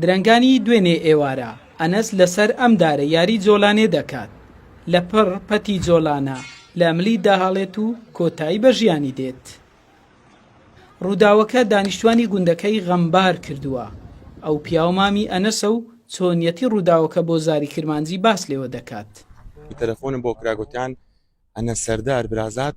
درەنگانی دوێنێ ئێوارە ئەنەس لەسەر ئەم دارە یاری جۆلانێ دەکات لە پڕ پەتی جۆلانە لە ملی داهاڵێت و کۆتایی بە ژیانی دێت ڕووداوەکە دانیشتوانی گوندەکەی غەمبار کردووە ئەو پیاو مامی ئەنەسە و چۆنیەتی ڕووداوەکە بۆ زاری کرمانجی باس لێوە دەکات تەلەفۆنم بۆ کراگوتیان ئەنە سەردار برازات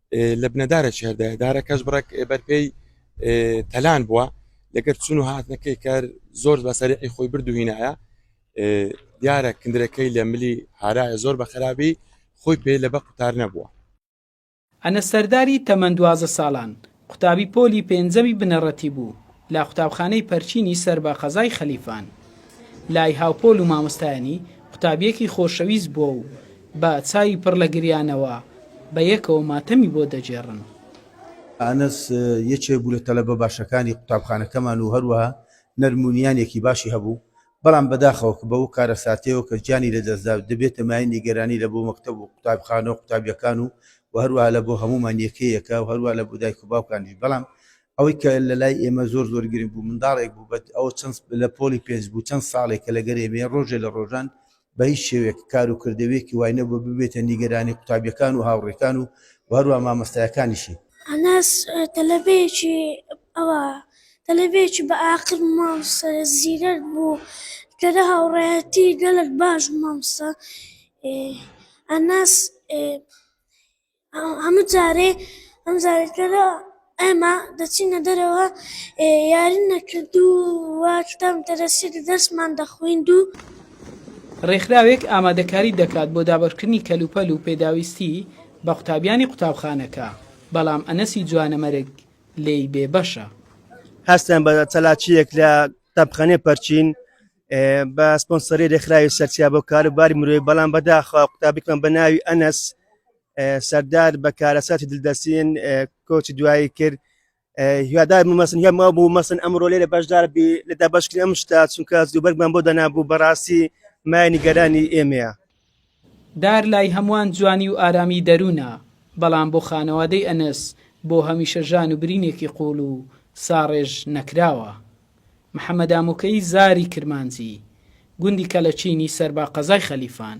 لبنە دارە چهر دایە دارە کەش بڕەک بەر پێی تەلان بووە لەگەر چون و هاتنەکەی کار زۆر بەسەری خۆی بردو هینایە دیارە کندرەکەی لە ملی هارایە زۆر بە خراپی خۆی پێ لە بە قوتار نەبووە ئەنەس سەرداری تەمەن دوازدە ساڵان، قوتابی پۆلی پێنجەمی بنەڕەتی بوو لە قوتابخانەی پەرچینی سەر بە قەزای خەلیفان. لای هاوپۆل و مامۆستایانی، قوتابییەکی خۆشەویست بووە و بە چاوی پڕ لە گریانەوە بە یەکەوە ماتەمی بۆ دەگێڕن. ئانەس یەکێک بوو لە تەلەبە باشەکانی قوتابخانەکەمان و هەروەها نەرم و نیانێکی باشی هەبوو، بەڵام بەداخەوە کە بەو کارەساتەیەوە کە گیانی لەدەستدا، دەبێتە مایەی نیگەرانی لە بۆ مەکتەب و قوتابخانە و قوتابیەکان و وە هەروەها لە بۆ هەموومان یەکەیەکە و هەروەها لە بۆ دایک و باوکانیش بەڵام ئەوەی کە لە لای ئێمە زۆر زۆر گرنگ بوو منداڵێک بوو بە ئەوە چەند لە پۆڵی پێنج بوو چەند ساڵێکە لەگەر ئێمەیە ڕۆژێ لە ڕۆژان بە هیچ شێوەیەک کار و کردەوەیەکی وای نەبووە ببێتە نیگەرانی قوتابییەکان و هاوڕێکان و هەروەها مامۆستایەکانیشی. ئەنەس، تەلەبەیەکی ئەوا تەلەبەیەکی بە ئاقل و مامۆستا زیرەک بوو کە لە هاوڕێیەتی گەلەک باش بوو مامۆستا ئەنەس، هەموو جارێ ئەم زارەکەدا ئەمە دەچینە دەرەوە یارن نەکرد و واکتام دەرەسی دەستمان دەخویند و ڕێکخراوێک ئامادەکاری دەکات بۆ دابەشکردنی کەلوپەل و پێداویستی بە قوتابیانی قوتابخانەکە، بەڵام ئەنەسی جوانەمەرگ لێی بێبەشە. هەستیان بە چالاکییەک لە قوتابخانەی پەرچین بە سپۆنسەری رێکخراوی سەرچیا بۆ کاروباری مرۆی بەڵام بەداخوا قوتابیکمان بە ناوی ئەنەس سەردار بە کارەساتی دلدەسین کۆچی دوایی کرد هیوادار مەسن هەم بوو مەسن ئەمڕۆ لێرە بەشدار بی لە دابشکری ئەم شتا چونکە دووبەرگمان بۆ دەنابوو بەڕاستی مای نیگەرانی ئێمەیە دار لای هەموان جوانی و ئارامی دەرونە، بەڵام بۆ خانەوادەی ئەنەس بۆ هەمیشە ژان و برینێکی قوڵ و ساڕێژ نەکراوە. محەمەد ئامۆکەیی زاری کرمانجی، گوندی کەلەچینی سەربا قەزای خەلیفان.